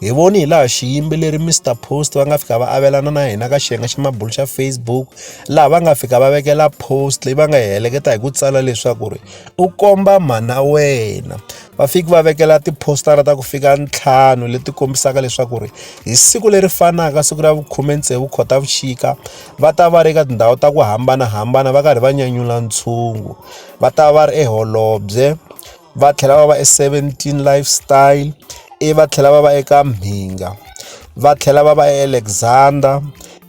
hi voni hi laha xiyimbeleri Mr Post va nga fika va avelana na hina ka xiyenge xa mabulu xa Facebook laha va nga fika va vekela post leyi va nga hi heleketa hi ku tsala leswaku ri u komba mhana wena va fiki va vekela tiphostara ta ku fika ntlhanu leti kombisaka leswaku ri hi siku leri fanaka siku ra vukhume tsevu khotavuxika va ta va ri ka tindhawu ta ku hambanahambana va karhi va nyanyula ntshungu va ta va ri eholobye va tlhela va va e Seventeen Lifestyle, ivi va tlhela va va eka Mhinga, va tlhela va va eAlexandra,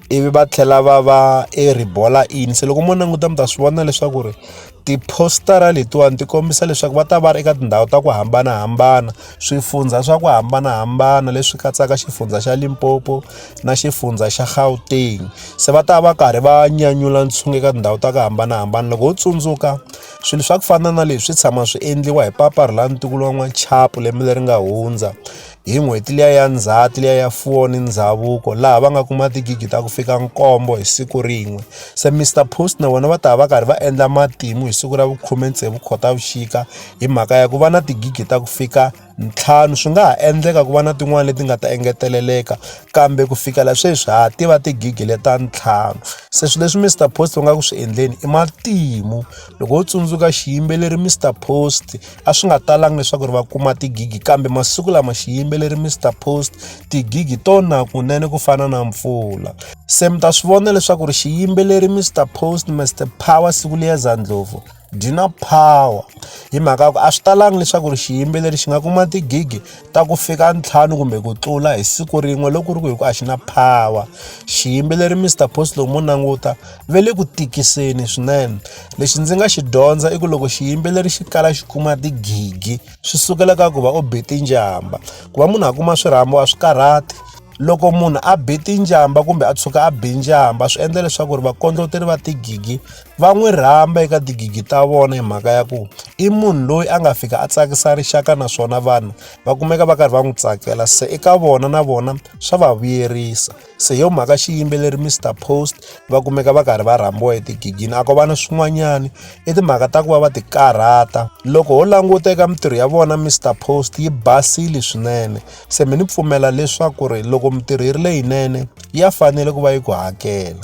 ivi va tlhela va va eRibolla Inn. Se loko mo languta mi ta swi vona leswaku ri tiphositara letiwani ti kombisa leswaku va ta va ri eka tindhawu ta ku hambanahambana, swifundza swa ku hambanahambana leswi katsaka xifundza xa Limpopo na xifundza xa Gauteng. Se va ta va karhi va nyanyula ntshungu eka tindhawu ta ku hambanahambana. Loko ho tsundzuka. Swilo swa ku fana na leswi tshama swi endliwa hi papa ri la ntukulu wa n'wachapu lembe leri nga hundza hi n'hweti liya ya ndzhati liya ya fuwo ni ndhavuko laha va nga kuma tigigi ta ku fika nkombo hi siku rin'we se Mister Post na vona va ta va karhi va endla matimu hi siku ra vukhume tsevu khotavuxika hi mhaka ya ku va na tigigi ta ku fika ntlhanu swi nga ha endleka ku va na tin'wani leti nga ta engeteleleka kambe ku fikela sweswi ha tiva tigigi le ta ntlhanu se swi leswi Mister Post u nga ku swi endleni i matimu loko wo tsundzuka xiyimbeleri Mister Post a swi nga talanga leswaku ri va kuma tigigi kambe masiku lama xiyimbeleri Mister Post tigigi to na kunene ku fana na mpfula se mi ta swi vona leswaku ri xiyimbeleri Mister Post Mister Power Sibuliyeza Ndlovu byi na power hi mhaka ku a swi talangi leswaku ri xiyimbeleri xi nga kuma tigigi ta ku fika ntlhanu kumbe ku tlula hi siku rin'we loko ku ri ku hi ku a xi na power xiyimbeleri Mister Post loko mo languta ve le ku tikiseni swinene lexi ndzi nga xi dyondza i ku loko xiyimbeleri xi kala xi kuma tigigi swi sukela ka ku va u be tinjamba ku va munhu a kuma swirhambo a swi karhati loko munhu a be tinjamba kumbe a tshuka a be njamba swi endla leswaku ri vakondloteri va tigigi va n'wi rhamba eka tigigi ta vona hi mhaka ya ku i munhu loyi a nga fika a tsakisa rixaka naswona vanhu va kumeka va karhi va n'wi tsakela se eka vona na vona swa va vuyerisa se hi yo mhaka xiyimbeleri Mister Post va kumeka va karhi va rhambiwa etigigini a ko va na swin'wanyani i timhaka ta ku va va ti karhata loko ho languta eka mintirho ya vona Mister Post yi basile swinene se mi ni pfumela leswaku ri loko mintirho yi ri leyinene ya fanele ku va yi ku hakela.